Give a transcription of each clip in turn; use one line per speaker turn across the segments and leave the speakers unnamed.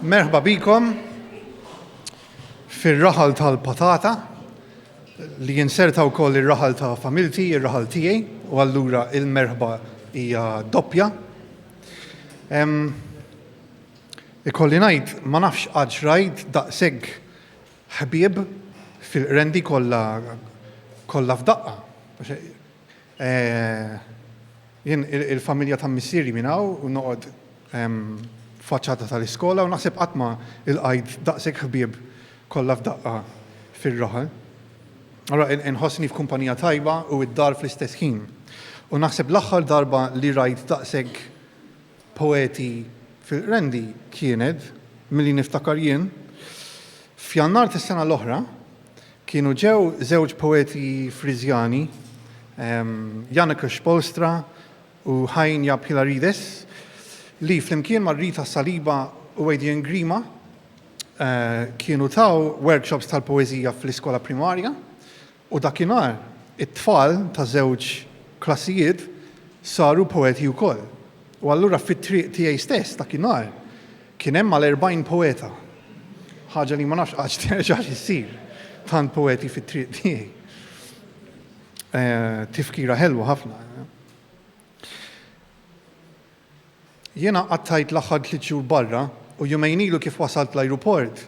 Merħba bikom fir-raħal tal-patata li jinserta wkoll ir-raħal ta' familti, ir-raħal tiegħi, u allura il-merħba hija doppja. Ikolli ngħid ma nafx għad xrajt daqshekk ħbieb fil-qrendi kollha kollha f'daqqa. Jien il-familja ta' missieri minn hawn u noqgħod f'faċċata tal-iskola u naħseb qatt ma lqajt daqshekk ħbieb kollha f'daqqa fir-raħal. Allura inħossni f'kumpanija tajba u d-dar fl-istess ħin. U naħseb l-aħħar darba li rajt daqshekk Poeti fil-Qrendi kienet, milli niftakar jien, f'Jannar tas-sena l-oħra, kienu ġew żewġ poeti Friżjani, Janekos Polstra u Hainia Pylarides, li flimkien ma' Rita Saliba u Adrian Grima kienu taw workshops tal-poeżija fl-iskola primarja. U dakinhar, it-tfal ta' żewġ klassijiet saru poeti wkoll. U allura fit-triq tiegħi stess dakinhar kien hemm għal erbgħin poeta. Ħaġa li ma nafx għadx terġax issir, tant poeti fit-triq tiegħi. Tifkira ħelwa ħafna. Jiena qattajt l-aħħar tliet xhur barra u jumejn ilu kif wasalt l-ajruport,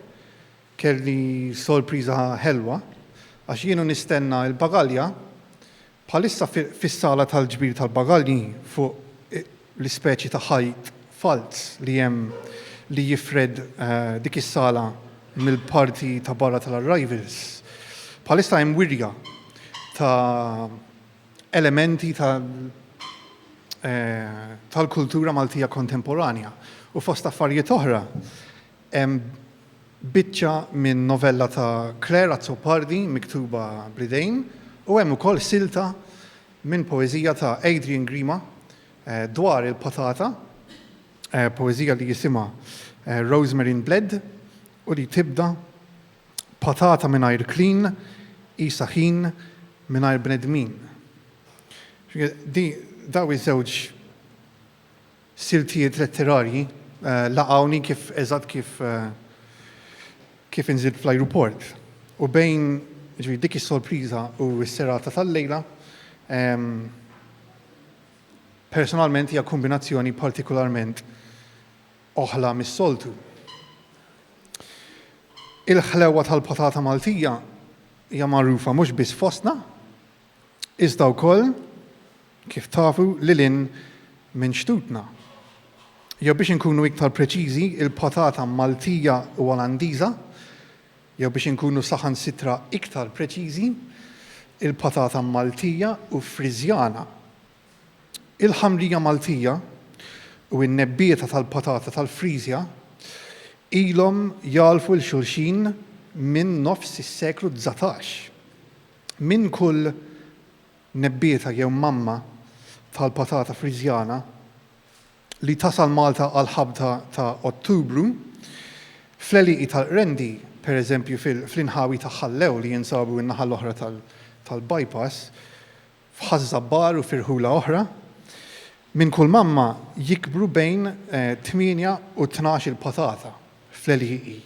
Kelli sorpriża ħelwa għax jien u nistenna l-bagalja, bħalissa fis-sala tal-ġbir tal-bagalji fuq l-ispeċi ta' ħajt falz li hemm li jifred dik is-sala mill-parti ta' barra tal-arrivals, bħalissa hemm wirja ta' elementi tal-kultura Maltija kontemporanja u fost affarijiet oħra, Hemm biċċa minn novella ta' Claire Azzopardi miktuba bl-idejn u hemm ukoll silta minn poeżija ta' Adrian Grima dwar il-patata, poeżija li jisimha Rosemary in Bled u li tibda, Patata mingħajr klin qisha ħin mingħajr bnedmin. Dawn iż-żewġ. Siltijiet letterarji laqgħuni kif eżatt kif kif inżilt fl-ajruport. U bejn, jiġifieri dik is-sorpriża u s-serata tal-lejla, personalment hija kombinazzjoni partikularment oħla mis-soltu. Il-ħlewwa tal-patata Maltija hija magħrufa mhux biss fostna, iżda wkoll, kif tafu, lil hinn minn xtutna. Jew biex inkunu iktar preċiżi, il-patata Maltija u Olandiża, jew biex inkunu saħansitra iktar preċiżi, il-patata Maltija u Friżjana. Il-ħamrija Maltija u n-nebbieta tal-patata tal-Friżja ilhom jagħlfu 'l xulxin minn nofs is-seklu dsatax. Minn kull nebbieta jew mamma tal-patata Friżjana li tasal Malta għall-ħabta ta' Ottubru, fl-għelieqi tal-Qrendi, pereżempju fl-inħawi ta' Ħal-Lew li jinsabu n-naħa l-oħra tal-bypass, f'Ħaż-Żabbar u f'irħula oħra, minn kull mamma jikbru bejn tmienja u tnax-il patata fl-għelieqi.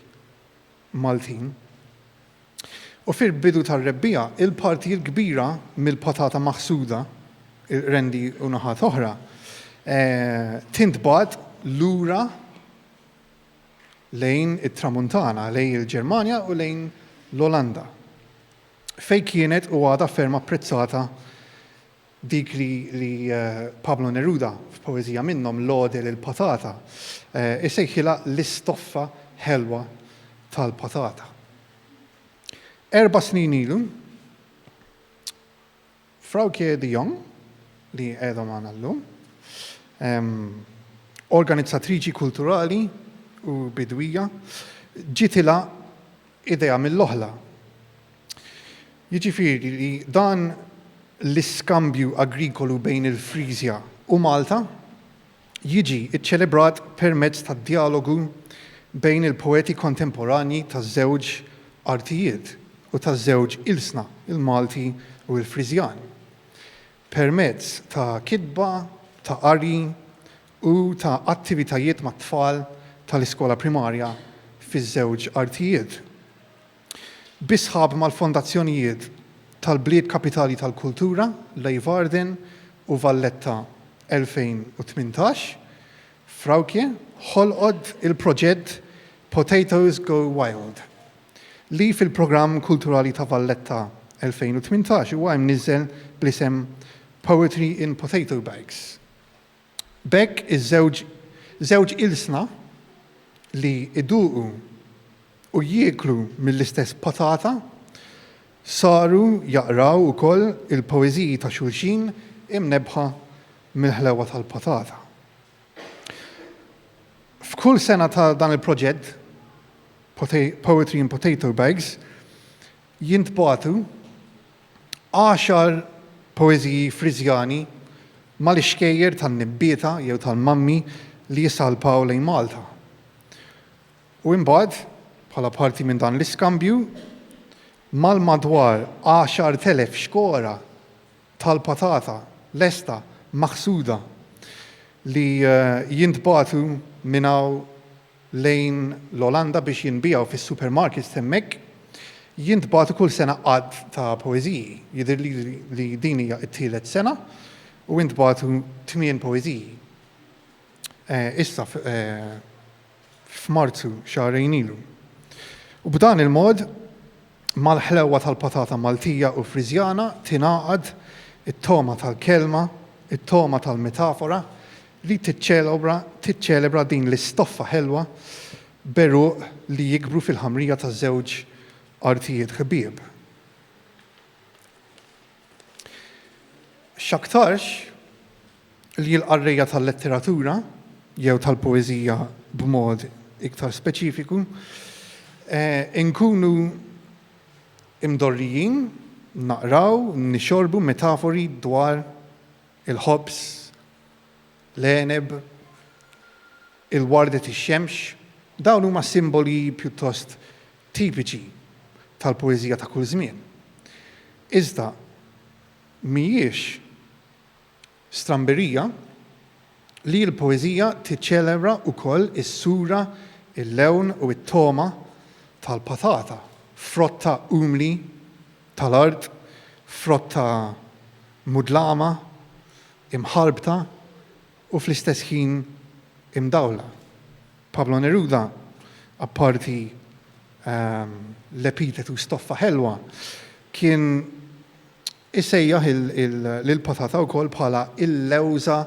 Maltin. U fil-bidu tar-rebbiegħa, il-partijiet kbira mill-patata maħsuda, il-qrendi u naħat oħra, tintbagħat lura lejn it-Tramuntana, lejn il-Ġermanja u lejn l-Olanda, fejn kienet u għadha ferm apprezzata Dik li Pablo Neruda, f'poeżija minnhom, Lode lil Patata, isejħilha l-istoffa ħelwa tal-patata. Erba' snin ilu, Frauke de Jong, li qiegħda magħna llum, organizzatriċi kulturali u bidwija, ġitilha idea mill-oħla. Jiġifieri li dan l-iskambju agrikolu bejn il-Frisia u Malta jiġi ċċelebrat permezz tad-djalogu bejn il-poeti kontemporanji taż-żewġ artijiet u taż-żewġ ilsna, il-Malti u l-Frisjan. permezz ta' kitba, ta' qari u ta' attivitajiet mat-tfal tal-iskola primarja fiż-żewġ artijiet, bi sħab mal-Fondazzjonijiet tal-Bliet Kapitali tal-Kultura, Leeuwarden u Valletta 2018, Vrouwke ħolqot il-proġett Potatoes Go Wild. li fil-Programm Kulturali ta' Valletta 2018 huwa imniżżel bl-isem Poetry in Potato Bags. B'hekk iż-żewġ żewġ ilsna li jduqu u jieklu mill-istess patata saru jaqraw ukoll il-poeżiji ta' xulxin imnebbħa mill-ħlewwa tal-patata. F'kull sena ta' dan il-proġett, Poetry in Potato Bags, jintbagħtu għaxar poeżiji Friżjani mal-ixkejjer tan-nibbieta jew tal-mammi li jissalpaw lejn Malta. U imbagħad, bħala parti minn dan l-iskambju, mal-madwar għaxart elef xkora tal-patata lesta maħsuda li jintbagħtu minn hawn lejn l-Olanda biex jinbiegħu fis-supermarkets t'hemmhekk, jintbagħtu kull sena għadd ta' poeżiji. Jidhirli li din hija t-tielet sena u ntbagħtu tmien poeżiji. Issa, f'Marzu xahrejn ilu. U b'dan il-mod, mal-ħlewwa tal-patata Maltija u Friżjana tingħaqad it-togħma tal-kelma, it-togħma tal-metafora li tiċċelobra tiċċelebra din l-istoffa ħelwa b'għeruq li jikbru fil-ħamrija ta' żewġ artijiet ħbieb. X'aktarx li l-qarrejja tal-letteratura jew tal-poeżija b'mod iktar speċifiku, inkunu imdorrijin naqraw, nixorbu metafori dwar il-ħobż, l-għeneb, il-wardet ix-xemx, dawn huma simboli pjuttost tipiċi tal-poeżija ta' kull żmien. Iżda mhijiex Stramberija li l-poeżija tiċċelebra wkoll is-sura, il-lewn u t-togħma tal-patata, frotta umli tal-art, frotta mudlama, imħarbta u fl-istess ħin imdawla. Pablo Neruda, apparti l-epitetu stoffa ħelwa, kien Isejjaħ lill-patata wkoll bħala l-lewża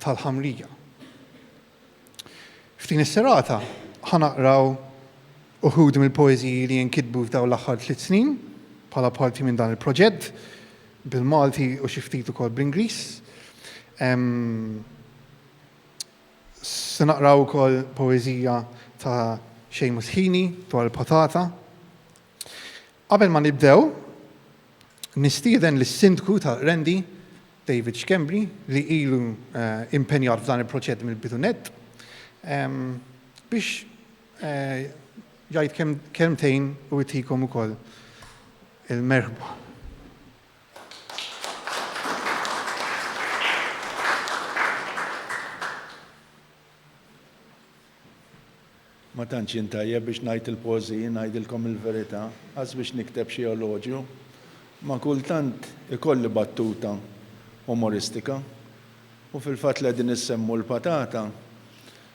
tal-ħamrija. F'din is-serata ħa naqraw uħud mill-poeżiji li inkitbu f'dawn l-aħħar tliet snin bħala parti minn dan il-proġett bil-Malti u xi ftit ukoll bl-Ingliż. Se naqraw ukoll poeżija ta' Séamus Heaney dwar il-patata. Qabel ma nibdew, nistieden lis-Sindku ta' Qrendi, David Schembri, li ilu impenjat f'dan il-proġett mill-bidu nett, biex jgħid kelmtejn u jtikom ukoll il-merħba.
Ma tantx jien tajjeb biex ngħid il-poeżiji, ngħidilkom il-verità, as biex nikteb xi eloġju, imma kultant ikolli battuta umoristika. U fil-fatt li qegħdin issemmu l-patata,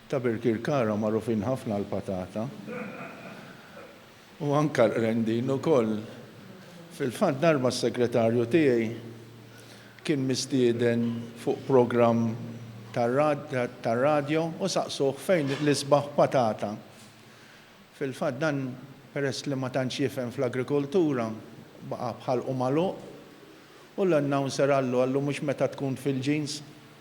ta' Birkirkara magħrufin ħafna għall-patata. U anke l-Qrendin ukoll. Fil-fatt darba s-segretarju tiegħi kien mistieden fuq programm tar-radjo u saqsuh fejn l-isbaħ patata. Fil-fatt dan peress li ma tantx jifhem fl-agrikoltura baqa' b'ħalqu magħluq u l-announcer qallu, qallu mhux meta tkun fil-jeans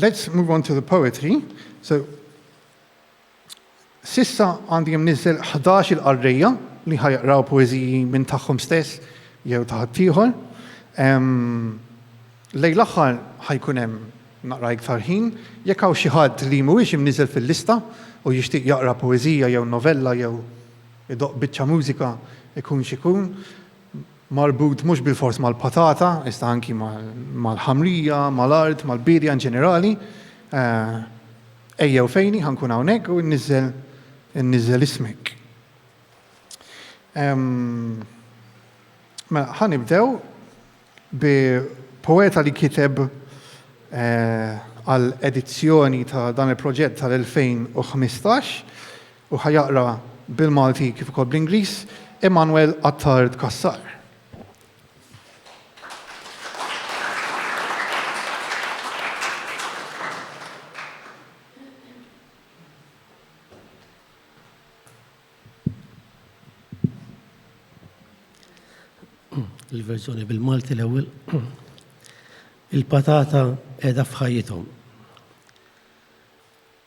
Let's move on to the poetry. So, sissa għandi jemnizzel 11 il-qarrija li ħajqraw poeziji minn tagħhom stess jew ta' ħaddieħor. Lej l-aħħar ħajkun hemm naqra iktar ħin, jekk hawn xi ħadd li mhuwiex imniżel fil-lista u jixtieq jaqra poezija jew novella jew idoq biċċa mużika ikun xikun, marbut mhux bilfors mal-patata, iżda anki mal-ħamrija, mal-art, mal-biedja inġenerali, ejjew fejni, ħa nkun hawnhekk u nniżżel ismek. Mela, ħa nibdew bi poeta li kiteb għal edizzjoni ta' dan il-proġett tal-2015, u ħa jaqra bil-Malti kif ukoll bl-Ingliż, Emmanuel Attard Cassar.
il-verżjoni bil-Malti l-ewwel. Il-patata qiegħda f'ħajjithom.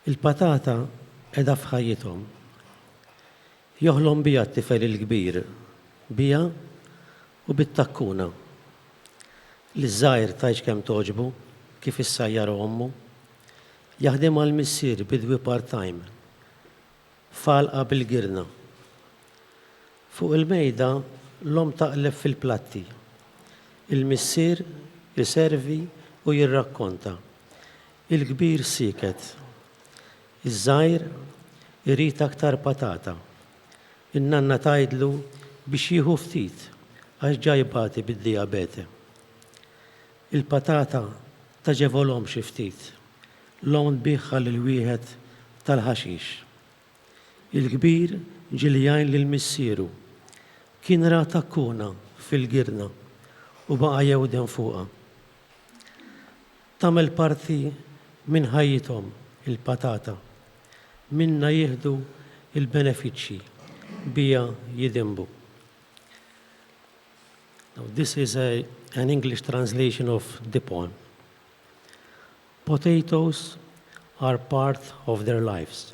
Il-patata qiegħda f'ħajjithom. Joħlom biha t-tifel il-kbir, biha u bit-takkuna. Liż-żgħir tgħidx kemm togħġbu kif issajjarha ommu. Jaħdem għall-missier bidwi part-time, f'għalqa bil-girna. Fuq il-mejda l-omm taqleb fil-platti. Il-missier iservi u jirrakkonta. Il-kbir sieket. Iż-żgħir irid aktar patata. In-nanna tgħidlu biex jieħu ftit għax ġa jbati bid-dijabete. Il-patata tagħġevolhom xi ftit. L-omm tbiegħha lil wieħed tal-ħaxix. Il-kbir ġie li jgħin lil missieru. Kien ra takkuna fil-girna u baqa' jewden fuqha. Tagħmel parti minn ħajjithom il-patata. Minnha jieħdu l-benefiċċji, biha jidinbu. Now this is a, an English translation of the poem. Potatoes are part of their lives.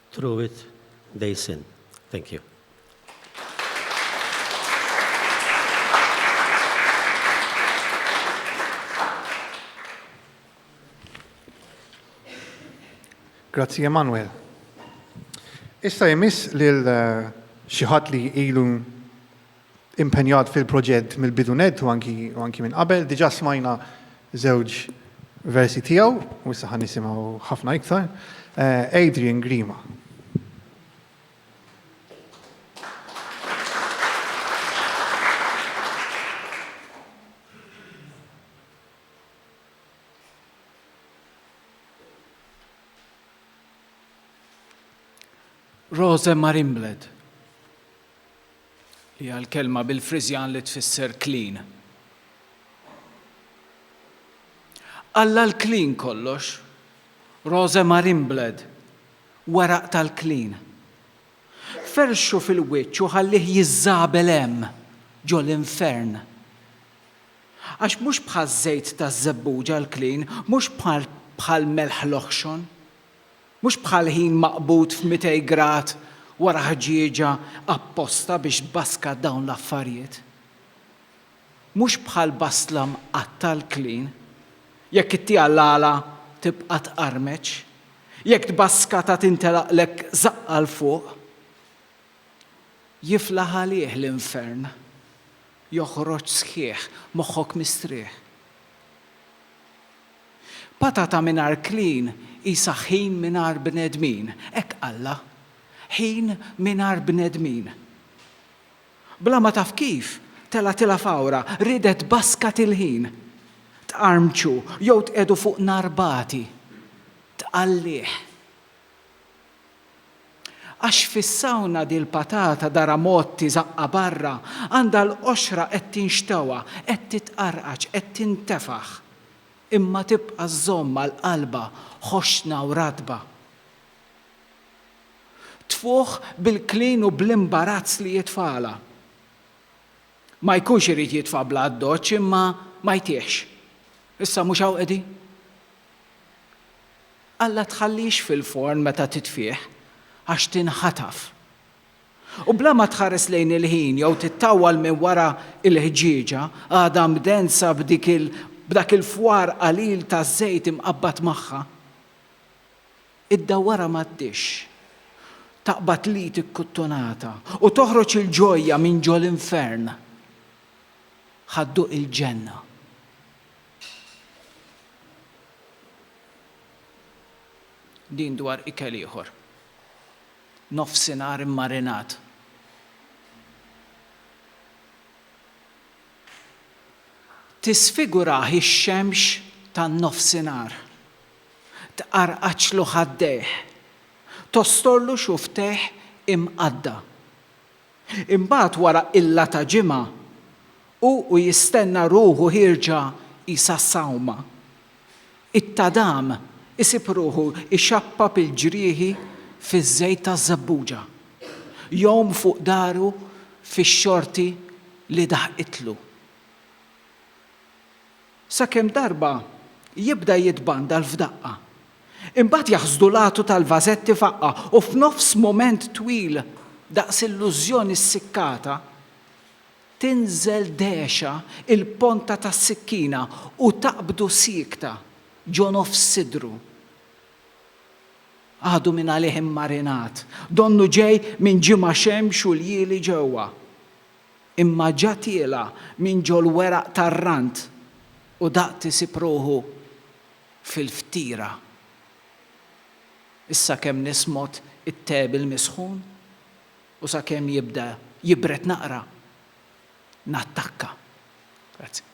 Truitt Basin. Thank you.
Grazzi Emanuel. Issa jmiss lil xi ħadd li ilu impenjat fil-proġett mill-bidu nett u anki u anki minn qabel. Diġà smajna żewġ versi tiegħu u issa ħa nisimgħu ħafna iktar. Eh, Adrian Grima.
Rose Marimbled. li hija l-kelma bil-Friżjan li tfisser klin. Alla l-klin kollox, Rose Marinblad, weraq tal-klin. Ferxu fil-wiċċ u ħallih jiżżabel hemm, ġo l-infern. Għax mhux bħaż-żejt taż-żebbuġa l-klin, mhux bħal melħ l-oħxon, Mhux bħal ħin maqbud f'mitej grad wara ħġieġa apposta biex tbaskad dawn l-affarijiet. Mhux bħal bastla mqatta' l-klin. Jekk ittiha l-għala tibqa' tqarmeċ. Jekk tbaskatha tintelaqlek żaqqa 'l fuq. Jiflaħ għalih l-infern. Joħroġ sħiħ, moħħok mistrieħ. Patata mingħajr klin qisha ħin mingħajr bnedmin, hekk qallha. Ħin mingħajr bnedmin. Bla ma taf kif, telgħatilha f'għawra, riedet tbaskat il-ħin. Tqarmċu jew tqiegħdu fuq nar bati. Tqallih. Għax fis-sawna dil-patata darha mgħotti żaqqha barra, għandha l-qoxra qed tinxtewha, qed titqarqaġ, qed tintefaħ, imma tibqa' żżomm għal qalbha ħoxna u ratba. Tfuħ bil-klin u bl-imbarazz li jitfagħalha. Ma jkunx irid jitfa' bla addoċċ imma ma jtihx. Issa mhux hawn qegħdin? Alla tħallix fil-forn meta titfih, għax tinħataf. U bla ma tħares lejn il-ħin jew tittawwal minn wara l-ħġieġa, għadha mdensa b'dik il b'dak il-fwar qalil ta' żejt imqabbad magħha. Iddawwarha mad-dixx, taqbad l-id ikkuttunata u toħroġ il-ġojja minn ġo l-infern. Ħa dduq il-ġenna. Din dwar ikel ieħor. Nofsinhar immarinat. Tisfigurah ix-xemx tan-nofsinhar. Tqarqaċlu ħaddejh. Tostorlu xuftejh imqadda. Imbagħad wara qilla ta' ġimgħa, hu u jistenna ruħu ħierġa qisha sawma. It-tadam isib ruħu jxappab il-ġrieħi fiż-żejt taż-żebbuġa. Jgħum fuq dahru fix-xorti li daħqitlu. Sakemm darba jibda jitbandal f'daqqa. Imbagħad jaħsdu l-għatu tal-vażetti f'aqqa u f'nofs mument twil daqs illużjoni ssikkata, tinżel dehxa il-ponta tas-sikkina u taqbdu siekta ġo nofs sidru. Għadu minn għalih immarinat, donnu ġej minn ġimgħa xemx u ljieli ġewwa. Imma ġa tiela' minn ġol-weraq tar-rant u daqt isib ruħu fil-ftira. Issa kemm nismot it-te bil-misħun u sakemm jibda jibred naqra, nattakka. Grazzi.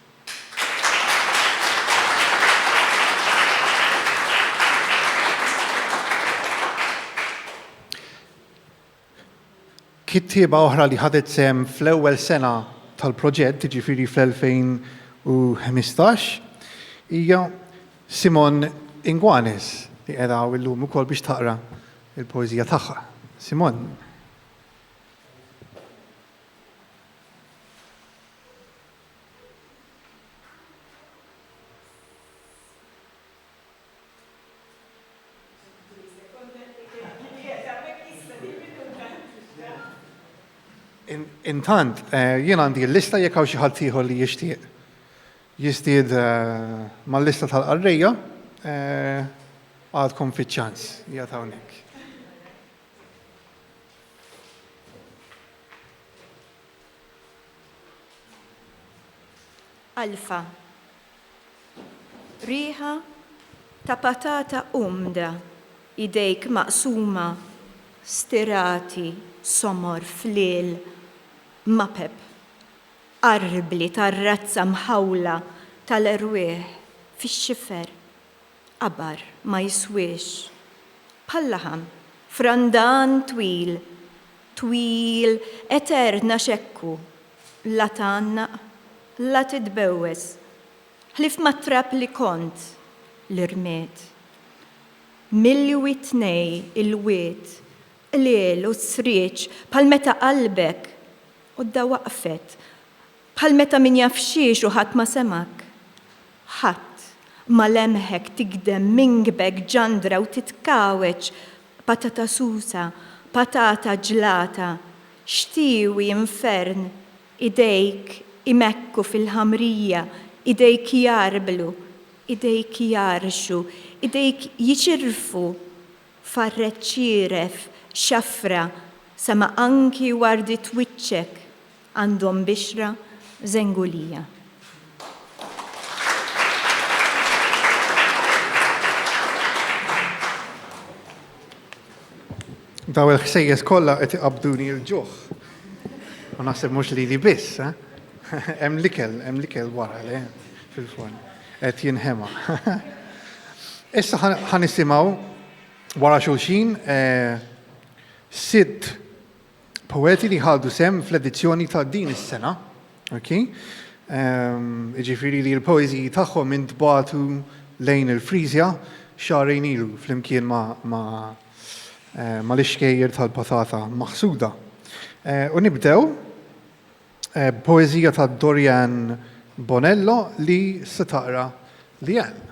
Kittieba oħra li ħadet sehem fl-ewwel sena tal-proġett, jiġifieri fl-2015, hija Simone Inguanes li qiegħda hawn illum ukoll biex taqra l-poeżija tagħha. Simone. Intant, eh, jien għandi l-lista jekk hawn xi ħadd ieħor li jixtieq jistied eh, mal-lista tal-qarrejja eh, għadkom fiċ-ċans jgħat hawnhekk.
Alfa, Riħa ta' patata umda, idejk maqsuma, stirati, somor, fliel, mapep, qarrbli tar-razza mħawla tal-erwieħ fix-xifer. Qabar ma jiswiex bħal-laħam frandan twil, twil etern għax hekk hu, la tgħannaq, la titbewwes, ħlief mat-trab li kont, li rmiet. Milwi tnej il-wied, qliel u srieġ bħal meta qalbek, u d-dawaqfet, Bħal meta min jaf xiex u ħadd ma semgħek. Ħadd ma lemħek tigdem mingbek ġandra u titkawweġ patata susa, patata ġlata, xtiewi, infern, idejk imekku fil-ħamrija, idejk jgħarblu, idejk jgħarrxu, idejk jiċirrfu farret ċieref, xafra, sema anki wardiet wiċċek Għandhom bixra żengulija.
Daw il-ħsejjes kollha qed iqabduni l-ġuħ. U naħseb mhux lili biss, eh? Hemm l-ikel, hemm l-ikel wara le fil-forn. Qed jinħema. Issa ħanisimgħu wara xulxin eh, sitt poeti li ħadu sehem fl-edizzjoni ta' din is-sena, okay? um, ġifiri li l-poeziji tagħhom intbatu lejn il-Frizja xarejn ilu flimkien ma, ma, eh, ma l-ixkejjer tal-patata maħsuda. Eh, u nibdew eh, poezija ta' Dorian Bonello li se taqra li għal.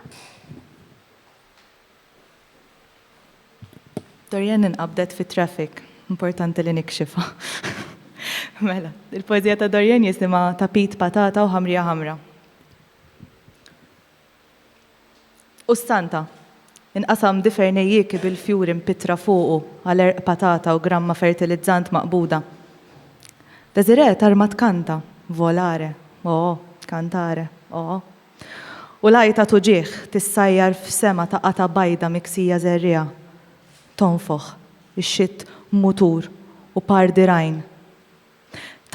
Dorianne inqabdet fit-traffic. Importanti li nikxifha. Mela, il-poeżija ta' Dorianne jisimha Tapit Patata u Ħamrija Ħamra. U s-Santa. Inqasam difer nejjieki bil-fjuri mpittra fuqu għal għerq patata u gramma fertilizzant maqbuda. Desiree tarma tkanta, Volare, oh, cantare, oh. U l-għajta t'uġigħ tissajjar f'sema ta' qatgħa bajda miksija żerriegħa. Tonfoħ, ixxitt mutur u par dirgħajn.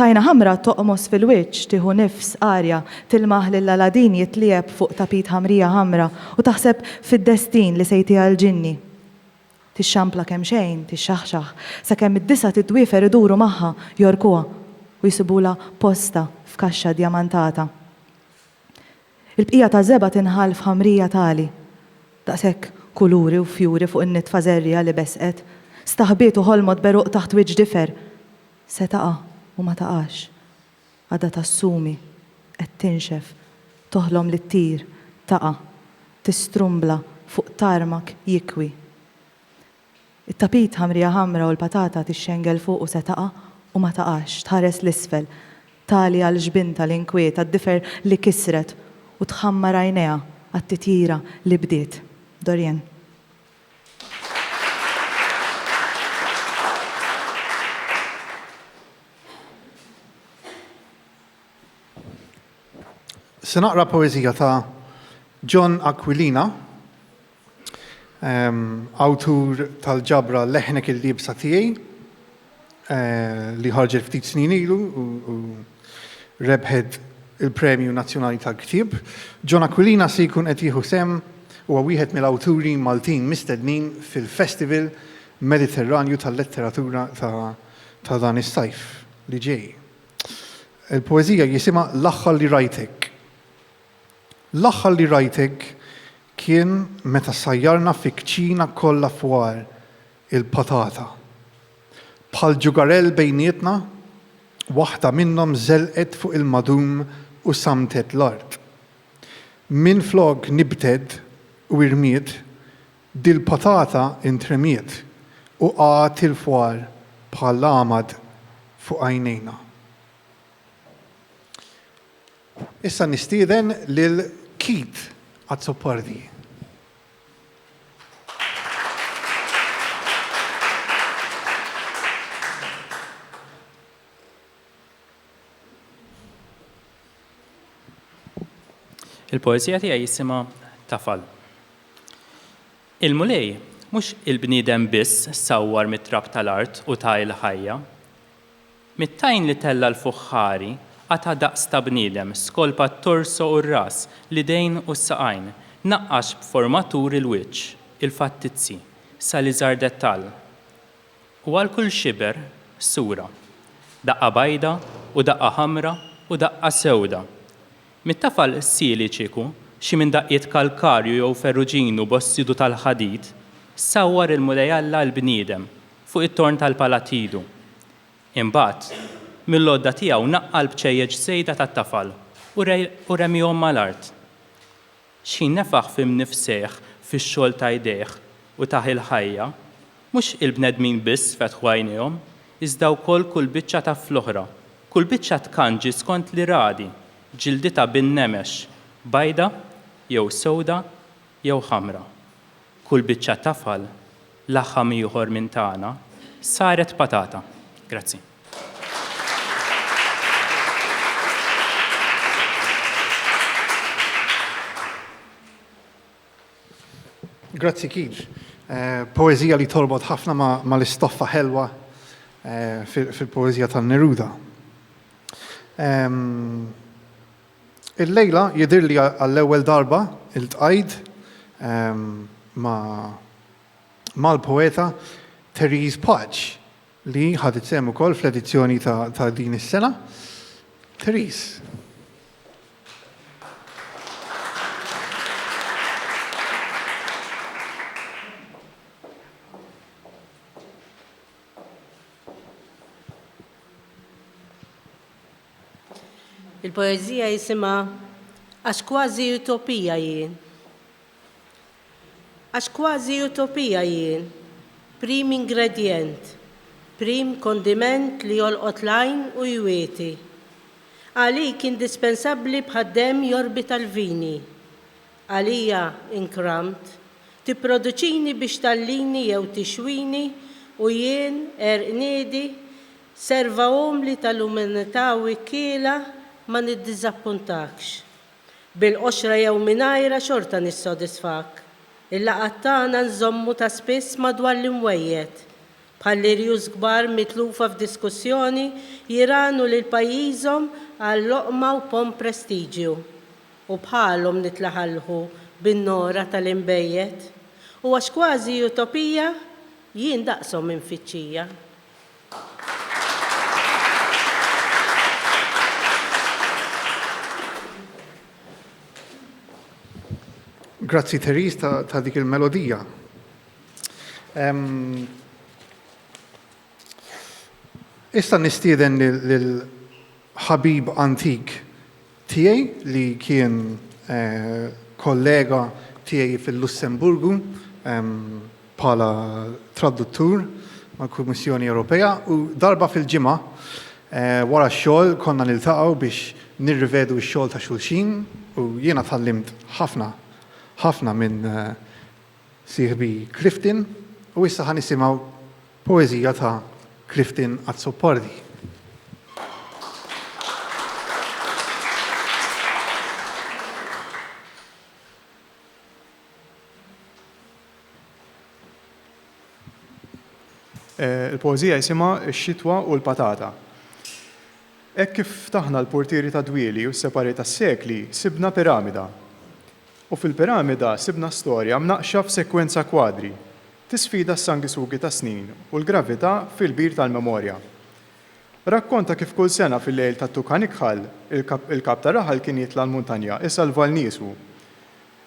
Tajna ħamra toqmos fil-wiċċ, tieħu nifs arja, tilmaħ lil Aladin jitliegħeb fuq tapit ħamrija ħamra u taħseb fid-destin li sejtiha l-ġinni. Tixxampla kemxejn, tixxaħxaħ, sakemm id-disa' tiddwiefer iduru magħha, jgħorkuha u jsibulha posta f'kaxxa djamantata. Il-bqija taż-żebgħa tinħall f'ħamrija tali, daqs hekk kuluri u fjuri fuq in-nitfa żerriegħa li besqet, staħbiet u ħolmot b'għeruq taħt wiċċ difer, se taqa' u ma taqax, għadha tassumi, qed tinxef, toħlom li ttir, taqa', tistrumbla fuq tarmak jikwi. It-tapit ħamrija ħamra u l-patata tixxengel fuqu se taqa' u ma taqax, tħares 'l isfel, tali għal ġbintha li nkwiet għad-difer li kisret u tħammar għajnejha għat-titjira li bdiet. Dorian.
Se naqra poeżija ta' John Aquilina. Awtur tal-ġabra Leħnek il-Liebsa Tiegħi li ħarġet ftit snin ilu u rebħet il-Premju Nazzjonali tal-Ktieb. John Aquilina se jkun qed jieħu sehem huwa wieħed mill-awturi Maltin mistednin fil-Festival Mediterranju tal-Letteratura ta' dan is-sajf li ġej. Il-poeżija jisimha L-Aħħar li Rajtek. L-aħħar li rajtek kien meta sajjarna fi kċina kollha fwar il-patata. Bħal ġugarell bejnietna, waħda minnhom żelqet fuq il-madum u sammtet l-art. Minflok nibted u irmiet, dil-patata intremiet u qagħet il-fwar bħal għamad fuq għajnejna. Issa nistieden lil Keith Azzopardi.
Il-poeżija tiegħi jisimha Tafal. Il-Mulej mhux il-bniedem biss sawwar mit-trab tal-art u ta il-ħajja. Mit-tajn li tella' l-fuħħari, qata' daqs ta' bniedem, skolpa t-torso u r-ras, l-idejn u s-saqajn, naqqax b'forma tur il-wiċċ, il-fattizzi, sa l-iżgħar dettall. U għal kull xiber, sura. Daqqa bajda u daqqa ħamra u daqqa sewda. Mit-tafal qsili ċieku, xi minn daqqiet kalkarju jew ferruġinu b'ossidu tal-ħadid, sawwar il-Mulej Alla l-bniedem, fuq it-torn tal-Palattidu. Imbagħad, mill-għodda tiegħu naqqa' l-bċejjeċ żejda tat-tafal u remihom mal-art. Xħin nefaħ f'imnifsejh fix-xogħol ta' jdejh u tah il-ħajja, mhux il-bnedmin biss fetħu għajnejhom, iżda wkoll kull biċċa ta' fl-oħra, kull biċċa tkanġi skont l-iradi, ġilditha bin-nemex, bajda jew sewda jew ħamra. Kull biċċa tafal, laħam ieħor minn tagħna, saret patata. Grazzi.
Grazzi Keith. Poeżija li torbot ħafna mal-istoffa ħelwa fil-poeżija tan-Neruda. Illejla jidhirli għall-ewwel darba iltqajt ma' mal-poeta Therese Patch li ħadet sehem ukoll fl-edizzjoni ta' din is-sena. Therese.
Il-poeżija jisimha Għax kważi utopija jien. Għax kważi utopija jien, prim ingredjent, prim kondiment li jolqot l-għajn u jwieti. Għalik indispensabbli bħad-demm jorbita l-vini. Għalija inkramt, tipproduċini biex tgħallini jew tixwini u jien, għerq niedi, Serva umli tal-umanità u ikkiela ma niddiżappuntakx. Bil-qoxra jew mingħajrha xorta nissodisfak. Il-laqgħat tagħna nżommu ta' spiss madwar l-imwejjed. Bħal l-irjus kbar mitlufa f'diskussjoni jirgħanu lil pajjiżhom għal loqma u pomm prestiġju. U bħalhom nitlaħalħu bin-nogħra tal-inbejjed. U għax kważi utopija, jien daqshom infittxija.
Grazzi Therese ta', ta dik il-melodija. Um, issa nistieden lil ħabib antik Tiegħi li kien kollega tiegħi fil-Lussemburgu bħala traduttur mal-Kummissjoni Ewropea u darba fil-ġimgħa wara x-xogħol konna niltaqgħu biex nirrivedu x-xogħol ta' xulxin u jiena tgħallimt ħafna ħafna minn sieħbi Clifton u issa ħa nisimgħu poeżija ta' Clifton Azzopardi. Eh,
il-poezija jisimha X-xitwa u l-patata. Hekk kif taħna l-portieri ta' dwieli u s-separi tas-sekli, sibna piramida. U fil-piramida sibna storja mnaqqxa f'sekwenza kwadri, tisfida s-sanguisugi tas-snin u l-gravità fil-bir tal-memorja. Rakkonta kif kull sena fil-lejl tat-Tukan Ikħal, il-Kap ta' Raħal kien jitla' l-muntanja isalva 'l niesu.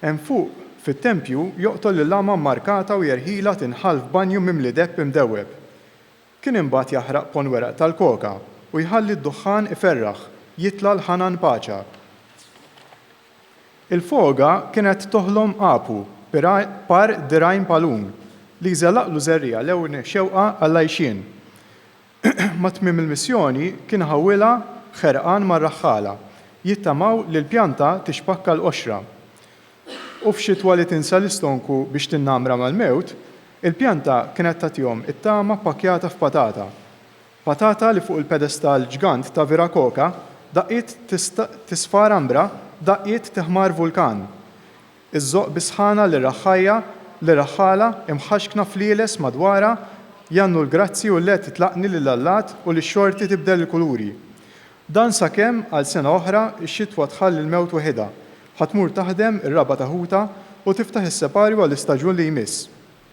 Hemm fuq, fit-tempju, joqtol lill-għama mmarkata u jerħilha tinħall f'banju mimli depp imdewweb. Kien imbagħad jaħraq ponn weraq tal-koka u jħalli d-duħħan iferraħ, jitla' l-ħanan paċa. Il-foga kienet toħlom għapu par dirgħajn palun li jżelaqlu żerriegħa lewn xewqa għall-għajxien. Ma' tmiem il-missjoni kien ħawilha ħerqan mar-raħħala, jittamaw li l-pjanta tixpakka l-qoxra. U f'xitwa li tinsa l-istonku biex tinnamra mal-mewt, il-pjanta kienet tagħtihom it-tama ppakkjata f'patata. Patata li fuq il-pedestal ġgant ta' Viracocha daqqiet tisfar ambra daqqiet tiħmar vulkan. Iżżoqq bis-sħana lir-raħħajja lir-raħħala imħaxkna flieles madwarha jgħannu l-grazzi u l-għed titlaqni lill-allat u li x-xorti tibdel il-kuluri. Dan sakemm għal sena oħra x-xitwa tħalli l-mewt weħidha, ħa tmur taħdem ir-raba' ta' ħutha u tiftaħ is-separju għall-istaġun li jmiss.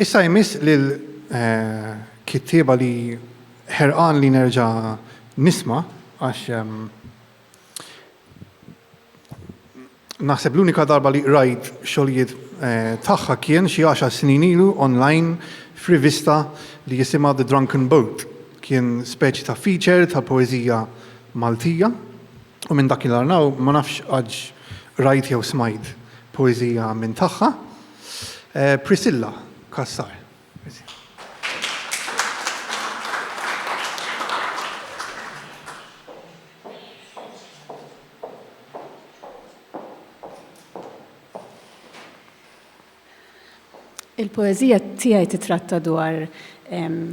Issa jmiss lil kittieba li ħerqan li nerġa' nisma' għax naħseb l-unika darba li qrajt xogħlijiet tagħha kien xi għaxar snin ilu online f'rivista li jisimha The Drunken Boat. Kien speċi ta' feature tal-poeżija Maltija u minn dakinhar 'n hawn ma nafx għadx qrajt jew smajt poeżija minn tagħha. Priscilla Cassar.
Il-poeżija tiegħi titratta dwar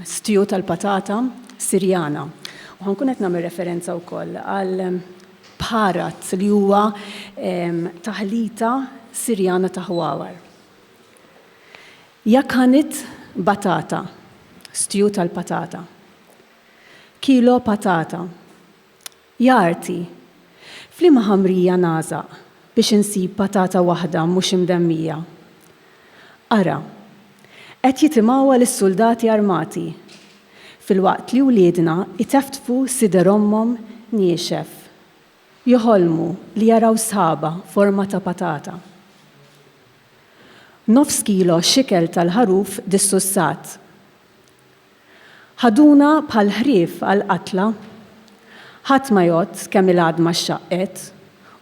stju tal-patata Sirjana. U ħankun qed nagħmel referenza wkoll għal Bharat li huwa taħlita Sirjana ta' ħwawar. Yakhanit batata, stew tal-patata. Kilo patata. Jagħrti, F'liema ħamrija nagħżaq biex insib patata waħda mhux imdemmija? Ara, qed jitimgħuha lis-suldati armati, filwaqt li wliedna jteftfu sider ommhom niexef, joħolmu li jaraw sħaba forma ta' patata. Nofs kilo xikel tal-ħaruf dissussat. Ħaduna bħal ħrief għall-qatla. Ħadd ma jgħodd kemm il-għadma xxaqqet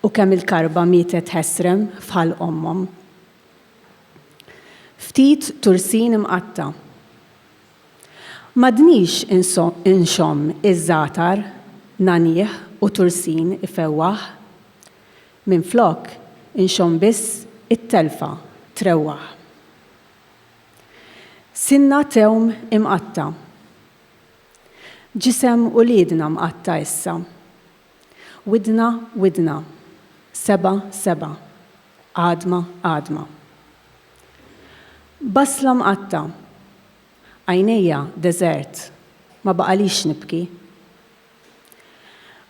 u kemm il-karba mietet ħesrem f'ħalq ommhom. Ftit tursin imqatta'. M'għadnix inxomm iż-żgħatar nagħnih u tursin ifewwaħ. Minflok inxomm biss it-telfa trewwaħ. Sinna tewm imqatta'. Ġisem uliedna mqatta' issa. Widna widna. Seba' seba'. Għadma għadma. Basla mqatta'. Għajnejja deżert. Ma baqalix nibki.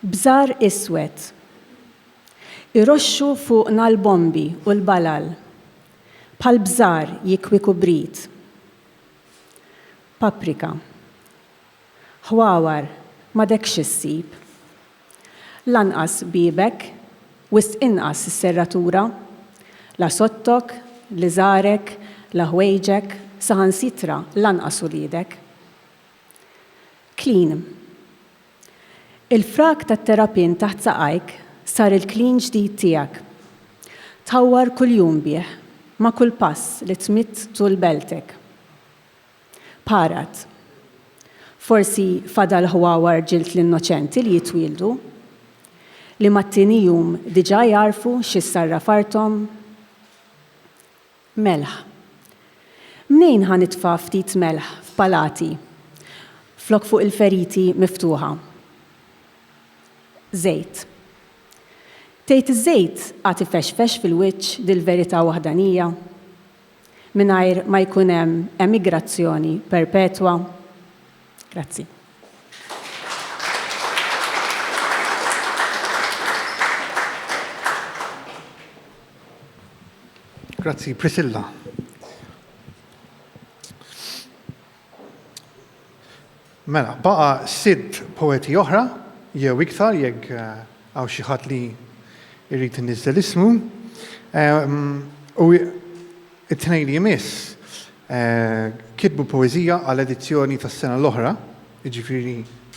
Bżar iswed. Iroxxu fuqna l-bombi u l-balal. Bħal bżar jikwiku b'rit. Paprika. Ħwawar m'għadek xi ssib. Lanqas biebek, wisq inqas is-serratura. La sottok, l-iżarek, la ħwejġek, saħansitra lanqas uliedek. Klin. Il-frak tat-terapin taħt saqajk sar il-klin ġdid tiegħek. Tħawwar kuljum bih, ma' kull pass li tmidd tul beltek. Parat. Forsi fadal ħwawar ġild l-innoċenti li jitwieldu, li mat-tieni jum diġà jagħrfu x'issarraf arthom? Melħ. Mnejn ħa nitfa' ftit melħ f'palati flok fuq il-feriti miftuħa? Żejt. Tgħid iż-żejt għad ifexfex fil-wiċċ dil-verità waħdanija? Mingħajr ma jkun hemm emigrazzjoni perpetwa? Grazzi.
Grazzi, Priscilla. Mela, baqa sitt poeti oħra, jew iktar, jekk eh, għaw xieħat li irrit nizzel ismu. Ehm, u It-tnejn li jmiss kitbu poeżija għal edizzjoni tas-sena l-oħra, jiġifieri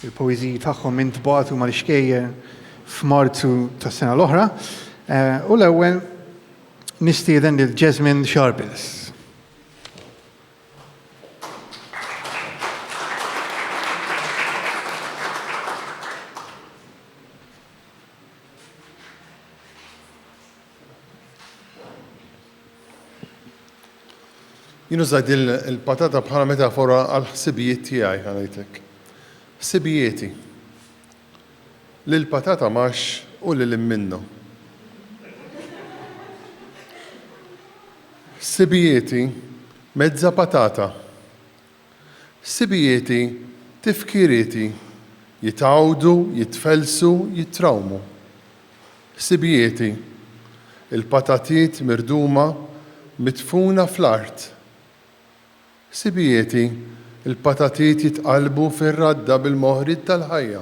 l-poeżiji tagħhom intbagħtu mal-ixkejjer f'Marzu tas-sena l-oħra, u l-ewwel nistieden lil Jasmine Sharples.
Jien użajt din il-patata bħala metafora għal ħsibijiet tiegħi ħanajtek. Ħsibijieti. Lil patata max u lil minnu. Ħsibijieti mezza patata Ħsibijieti, tifkirieti, jitgħawdu, jitfellsu, jittrawmu. Ħsibijieti, il-patatiet mirduma midfuna fl-art. Ħsibijieti, il-patatiet jitqallbu fir-radda bil-moħriet tal-ħajja.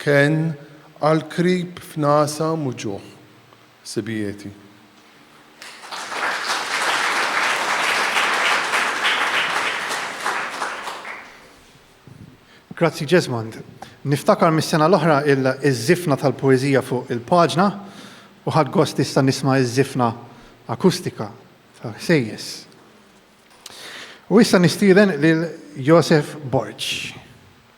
Kien għal krib f'nasam u ġuħ sibijieti.
Grazzi Jesmond. Niftakar mis-sena l-oħra il-żifna tal-poeżija fuq il-paġna u ħadt gost issa nisma' iż-żifna akustika tal-ħsejjes. U issa nistieden lil Josef Borg.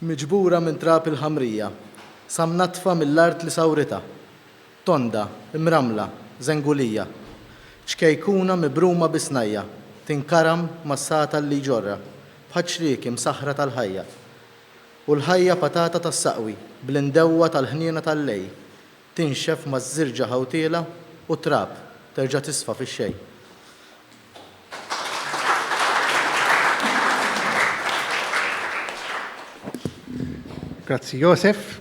miġbura minn trab il-ħamrija, sa mnaddfa mill-art li sawritha, tonda, imrammla, żengulija, ċkejkuna mibruma bi snajja, tinkaram mas-satal li jġorrha, bħaċ-ċrieki msaħħra tal-ħajja. U l-ħajja patata tas-saqwi, bl-indewwa tal-ħniena tal-lejl, tinxef maż-żirġa ħawtiela u t-trab, terġa' tisfa fix-xejn.
Grazzi Josef.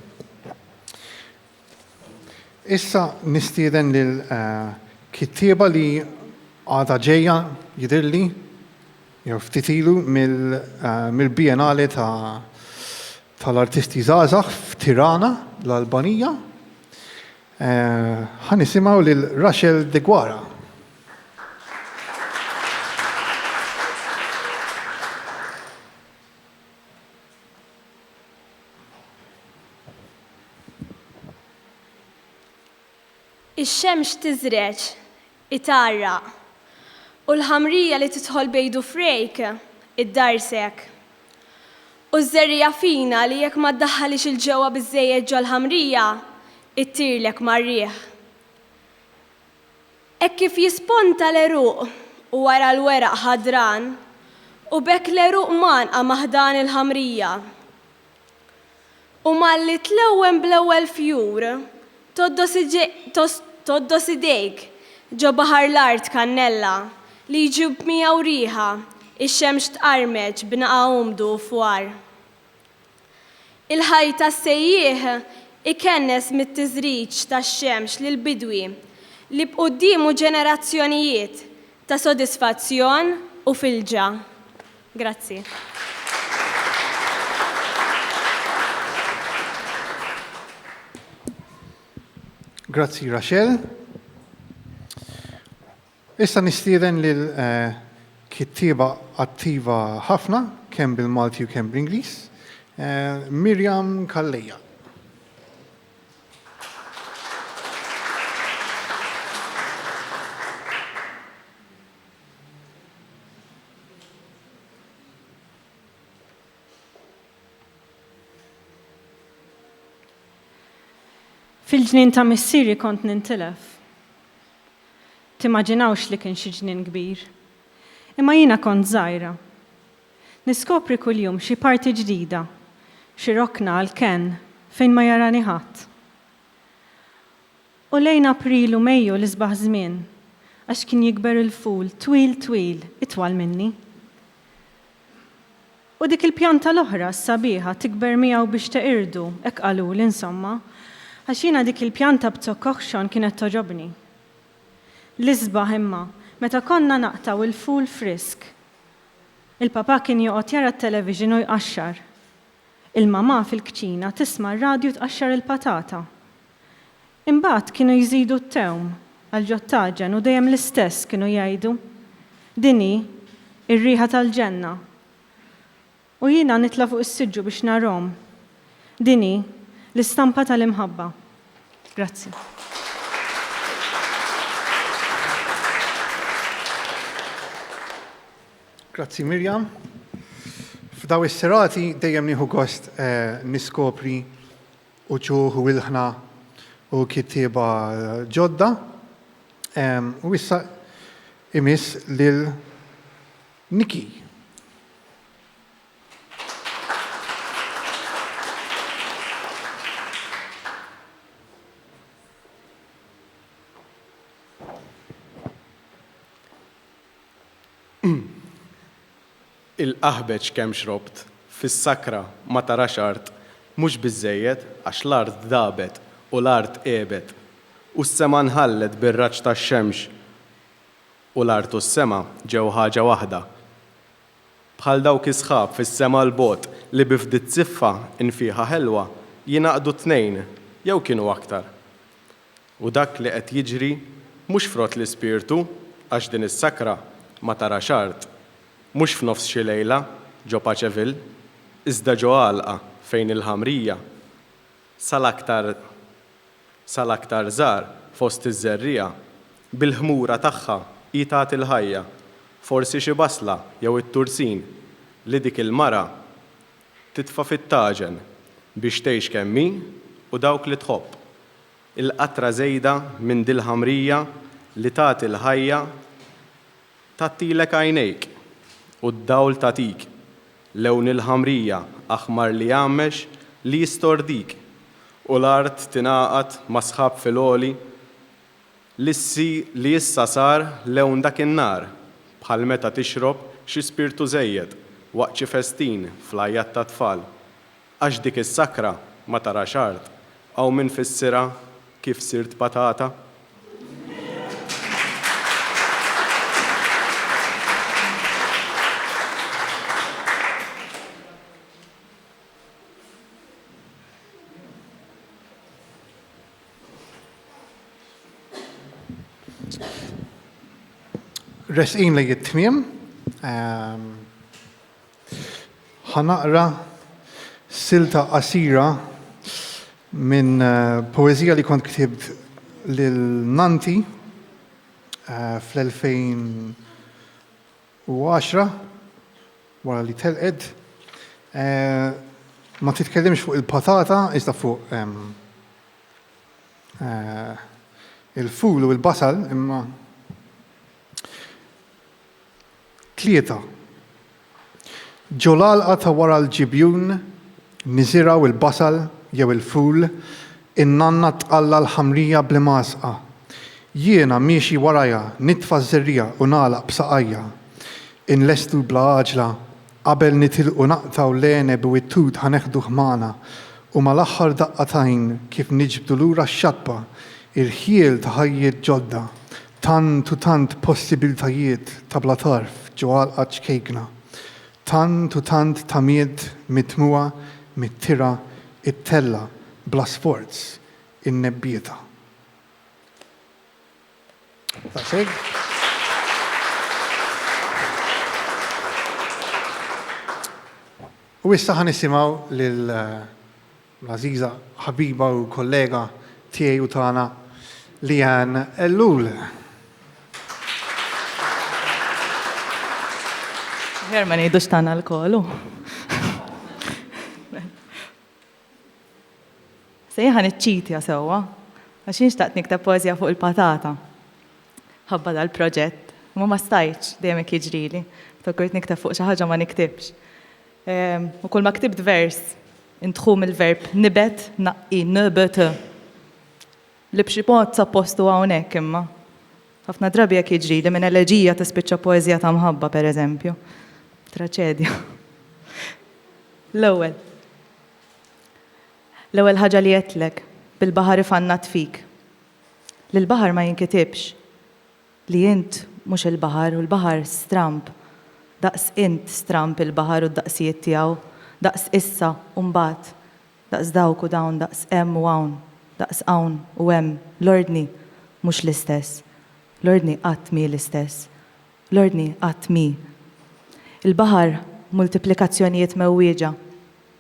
Issa nistieden lil eh, kittieba li għada ġejja jidirli jew ftit ilu eh, mill-Bienale ta' tal-artisti Zazax f'Tirana, l-Albanija. Eh, ħanisimgħu lil Rachel Degwara.
Ix-xemx tiżreġ, itgħarraq, u l-ħamrija li tidħol b'għid u frejk, iddarsek. U ż-żerriegħa fina li jekk ma ddaħħalhiex 'il ġewwa biżżejjed ġol-ħamrija, ittirlek mar-riħ. Hekk kif jisponta l-għeruq u wara l-weraq ħadran u b'hekk l-għeruq mgħannqa ma' ħdan il-ħamrija. U malli tlewwen bl-ewwel fjur, tgħoddos idejk ġo baħar l-art kannella li jġib miegħu riħa, ix-xemx tqarmeċ b'naqa' umdu u fwar. Il-ħajt tas-sejjieħ ikennes mit-tiżriġ tax-xemx lill-bidwi li b'quddiemu ġenerazzjonijiet ta' sodisfazzjon u filġa. Grazzi.
Grazzi Rachel. Issa nistieden lil kittieba attiva ħafna kemm bil-Malti u kemm bl-Ingliż, Miriam Calleja.
Fil-ġnien ta' missieri kont nintilef. Timmaġinawx li kien xi ġnien kbir. Imma jiena kont żgħira. Niskopri kuljum xi parti ġdida, xi rokna għal kenn fejn ma jarani ħadd. U lejn April u Mejju l-isbaħ żmien, għax kien jikber il-ful twil twil, itwal minni. U dik il-pjanta l-oħra, s-sabiħa, tikber miegħu biex teqirdu, hekk qaluli, insomma, għax jiena dik il-pjanta b'zokk oħxon kienet togħġobni. L-isbaħ, imma, meta konna naqtgħu il-ful frisk, il-papà kien joqgħod jara t-television u jqaxxar. Il-mamà fil-kċina tisma' r-radju tqaxxar il-patata. Imbagħad kienu jżidu t-tewm għall-ġottaġen u dejjem l-istess kienu jgħidu, Din hi, ir-riħa tal-ġenna. U jiena nitla' fuq is-siġġu biex narhom. Din hi, l-istampa tal-imħabba. Grazzi.
Grazzi Miriam. F'daw is-serati dejjem nieħu gost niskopri uċuħ u ilħna u kittieba ġodda, u issa imiss lil Nicky.
Il-qaħbeġ kemm xrobt, fis-sakra ma tarax art, mhux biżżejjed għax l-art dagħbet u l-art għebet, u s-sema nħallet bir-raġġ tax-xemx, u l-art u s-sema ġew ħaġa waħda. Bħal dawk is-sħab fis-sema 'l bogħod li bi fdiet ziffa nfieħa ħelwa jingħaqdu t-tnejn jew kienu aktar. U dak li qed jiġri mhux frott l-ispirtu għax din is-sakra ma tarax art, mhux f'nofs xi lejla ġo Paceville, iżda ġo għalqa fejn il-ħamrija, sal-aktar sal-aktar żgħar fost iż-żerriegħa, bil-ħmura tagħha hi tagħti l-ħajja, forsi xi basla jew it-tursin li dik il-mara Titfa' fit-taġen biex tgħix kemm hi u dawk li tħobb. Il-qatra żejda minn dil-ħamrija li tagħti l-ħajja tgħattilek għajnejk u d-dawl tagħtik. Lewn il-ħamrija aħmar li jgħammex li jistordik u l-art tingħaqad mas-sħab fil-għoli. Lissi li issa sar lewn dak in-nhar, bħal meta tixrob xi spirtu żejjed waqt xi festin fl-għajjat tat-tfal. Għax dik is-sakra ma tarax art, hawn min fissirha kif sirt patata.
Resqin li jittmim, ehm, ħanaqra silta qasira minn eh, poezija li kont ktibt lil Nanti eh, fl-2000 u għaxra, wara li telqet, ma titkellimx fuq il-patata iżda fuq il-ful u l-basal, imma tlieta, ġol-għalqa ta' wara l-ġibjun niżirgħu l-basal jew il-ful In-nanna tqalla' l-ħamrija bl-imgħasqa. Jiena miexi warajha nitfa' ż-żerriegħa u nagħlaq b'saqajja. Inlestu bla għaġla. Qabel nitilqu naqtgħu l-għeneb u t-tut ħa neħduh magħna. U mal-aħħar daqqa t'għajn kif niġbdu lura x-xatba. Irħiel ta' ħajjiet ġodda. Tant u tant possibiltajiet ta' bla tarf ġo għalqa ċkejkna. Tant u tant tamiet mitmugħa mit-tira ttella' bla sforz in-nebbieta. U issa ħa nisimgħu lil l-għażiża ħabiba u kollega tiegħi u tagħna Leanne Ellul. Aħjar
ma ngħidux tagħna lkoll hu. Sejħa niċċitja sewwa għax jien xtaqt nikteb poeżija fuq il-patata. Ħabba dal-proġett, imma ma stajtx dejjem hekk jiġrili. Fakkurt nikteb fuq xi ħaġa ma niktibx. U kulma ktibt vers, intħu mill-verb nibet, naqqi, nbet, li b'xi mod sab postu hawnhekk imma. Ħafna drabi hekk jiġrili, minn eleġija tispiċċa poeżija ta' mħabba, pereżempju. Traċedja. L-ewwel. L-ewwel ħaġa li għedtlek, bil-baħar ifannat fik. Li l-baħar ma jinkitibx. Li int mhux il-baħar u l-baħar stramb daqs int stramb il-baħar u d-daqsijiet tiegħu, daqs issa u mbagħad, daqs dawk u dawn, daqs hemm u hawn, daqs hawn u hemm, l-ordni mhux l-istess. L-ordni qatt mhi l-istess. L-ordni qatt mhi. Il-baħar multiplikazzjonijiet mewwieġa.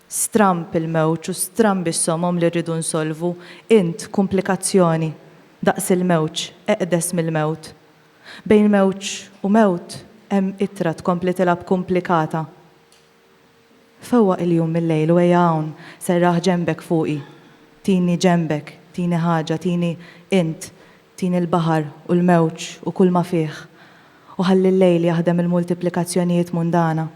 Stramb il-mewġ u strambi s-somom li rridu nsolvu, int, kumplikazzjoni, daqs il-mewġ, eqdes mill-mewt. Bejn mewġ u mewt hemm ittra tkompli tilgħab kumplikata. Fewwaq il-jum mil-lejl u ejja hawn, serraħ ġenbek fuqi, tini ġenbek, tini ħaġa, tini int, tini l-baħar u l-mewġ u kull ma fih, u ħalli l-lejl jaħdem il-multiplikazzjonijiet mundana.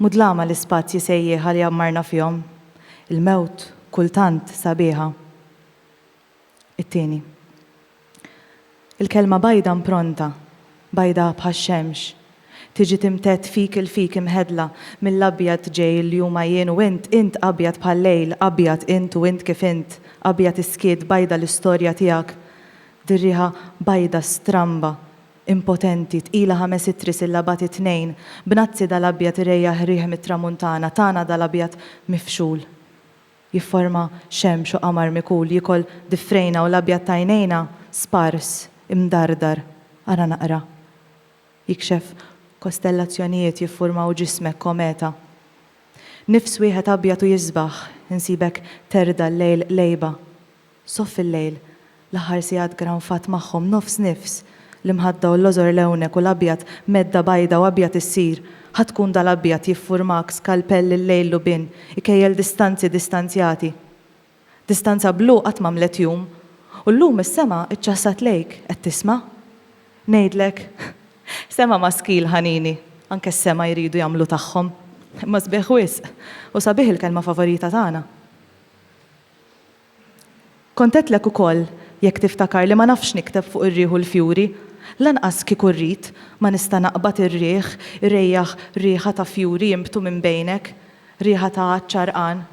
Mudlama l-ispazji sejjieħa li għammarna fihom, il-mewt kultant sabiħa. It-tieni. Il-kelma bajda mpronta, bajda bħax-xemx, tiġi timtedd fik 'il fik imħeddla mill-abjad ġej li huma jien u int, int abjad bħal-lejl, abjad int u int kif int, abjad is-skiet, bajda l-istorja tiegħek, dir-riħa bajda stramba, impotenti, tqila ħames ittri sillabati tnejn, b'nazzi dal-abjad irejjah riħ mit-tramuntana, tana dal-abjad mifxul, jifforma xemx u qamar mikul, jiekol difrejna u l-abjad ta' għajnejna spars, imdardar, ara naqra, jikxef kostellazzjonijiet jiffurmaw ġismek kometa. Nifs wieħed abjad u jisbaħ, insibek terda' l-lejl qlejba, Sof fil-lejl, l-aħħar sigħat granfat magħhom nofs nifs, l-imħadda u l-lożor l-ewnek u l-abjad medda bajda u abjad issir, ħa tkun dal-abjad jiffurmak skalpell il-lejl lubin, ikejjel distanzi distanzjati. Distanza blu qatt m'għamlet jum, u llum is-sema ċċassat lejk, qed tisma'? Ngħidlek, sema maskil ħanini, anke s-sema jridu jagħmlu tagħhom. Imma sbieħ wisq, u sabiħ il-kelma favorita tagħna. Kont għedtlek ukoll, jekk tiftakar, li ma nafx nikteb fuq ir-riħ u l-fjuri. Lanqas kieku rrid, ma nista' naqbad ir-riħ irejjah riħa ta' fjuri jinbtu minn bejnek, riħa ta' għadd ċarqan.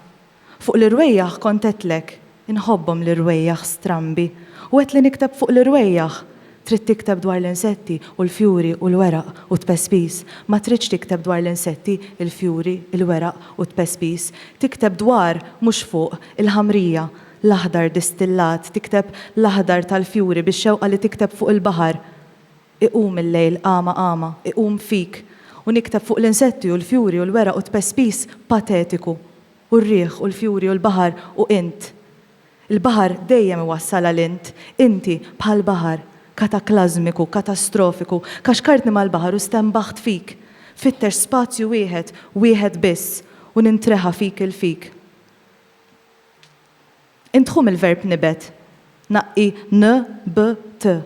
Fuq l-irwejjaħ kont għedtlek, inħobbhom l-irwejjaħ strambi, u għedt li nikteb fuq l-irwejjaħ. Trid tikteb dwar l-insetti u l-fjuri u l-weraq u t-tpespiż. Ma tridx tikteb dwar l-insetti, il-fjuri, il-weraq u t-tpespiż. Tikteb dwar, mhux fuq, il-ħamrija, l-aħdar distillat, tikteb l-aħdar tal-fjuri bix-xewqa li tikteb fuq il-baħar. Iqum il-lejl qama qama, iqum fik, u nikteb fuq l-insetti u l-fjuri u l-weraq u t-tpespiż patetiku, u r-riħ u l-fjuri u l-baħar u int. Il-baħar dejjem iwassalha 'l int, inti, bħal baħar, kataklażmiku, katastrofiku, kaxkartni mal-baħar u stenbaħt fik, fittex spazju wieħed, wieħed biss, u nintreħa fik 'il fik. Int ħu mill-verb nibet, naqi n, b, t.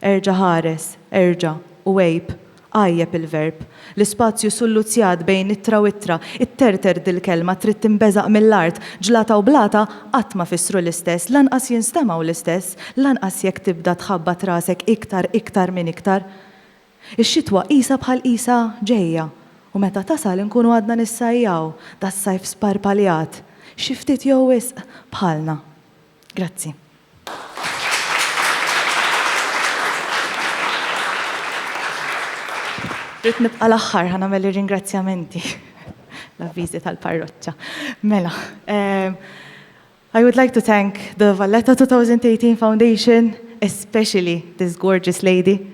Erġa' ħares, erġa', u għejb, għajjeb il-verb. L-ispazju sulluzzjat bejn ittra u ittra, itterter dil-kelma trid tinbeżaq mill-art, ġlata u blata qatt ma fissru l-istess, lanqas jinstemgħu l-istess, lanqas jekk tibda tħabbat rasek iktar, iktar minn iktar. Ix-xitwa qisha bħal qisha ġejja, u meta tasal inkunu għadna nissajjaw, das-sajf sparpaljat, xi ftit jew wisq, bħalna. Grazzi. Rrid nibqa' l-aħħar ħa nagħmel ir-ringrazzjamenti l-avviżi tal-parroċċa. Mela, um, I would like to thank the Valletta 2018 Foundation, especially this gorgeous lady,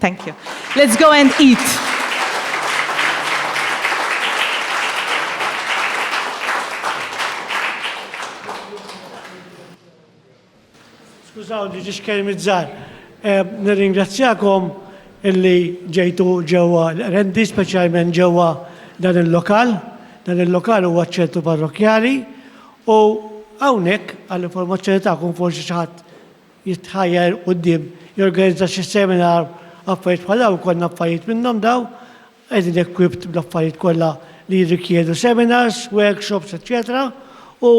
Thank you. Let's go and eat.
Skużaw li ġiex kelmi zzar. Eh, nirringrazzjakom illi ġejtu ġewwa l-rendi, speċjalment ġewwa dan il-lokal. Dan il-lokal huwa ċentru parrokjali u hawnhekk għall-informazzjoni tagħkom forsi xi ħadd jitħajjar quddiem jorganizza xi seminar, affarijiet bħal dawn ikollna affarijiet minnhom dawn, qegħdin equipped bl-affarijiet kollha li jirrikjedu seminars, workshops, eċċetera u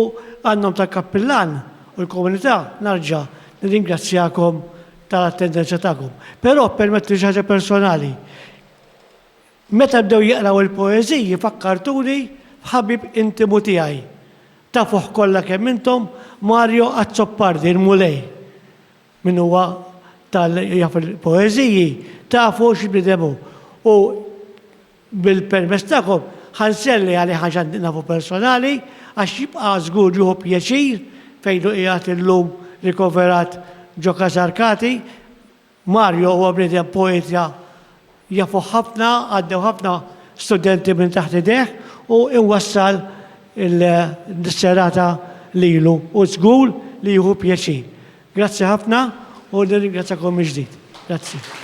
għan-nom tal-kappillan u l-komunità narġa' nirringrazzjakom tal-attendenza tagħkom. Però ppermettuli xi ħaġa personali. Meta bdew jaqraw il-poeżiji fakkartuni f'ħabib intimu tiegħi. Tafuh kollha kemm intom Mario Azzopardi, il-Mulej. Min huwa tal jaf il-poeżiji tafu x'bniedem hu. U bil-permess tagħkom ħa nselli għalih għax għandi nafu personali għax jibqa' żgur jieħu pjaċir fejn hu qiegħed illum rikoverat ġo Kasarkati Mario huwa bniedem poetja jafuh ħafna, għaddew ħafna studenti minn taħt idejh u iwassal il-serata lilu u żgur li jieħu pjaċir. Grazzi ħafna u nirringrazzjakom mill-ġdid. Grazzi.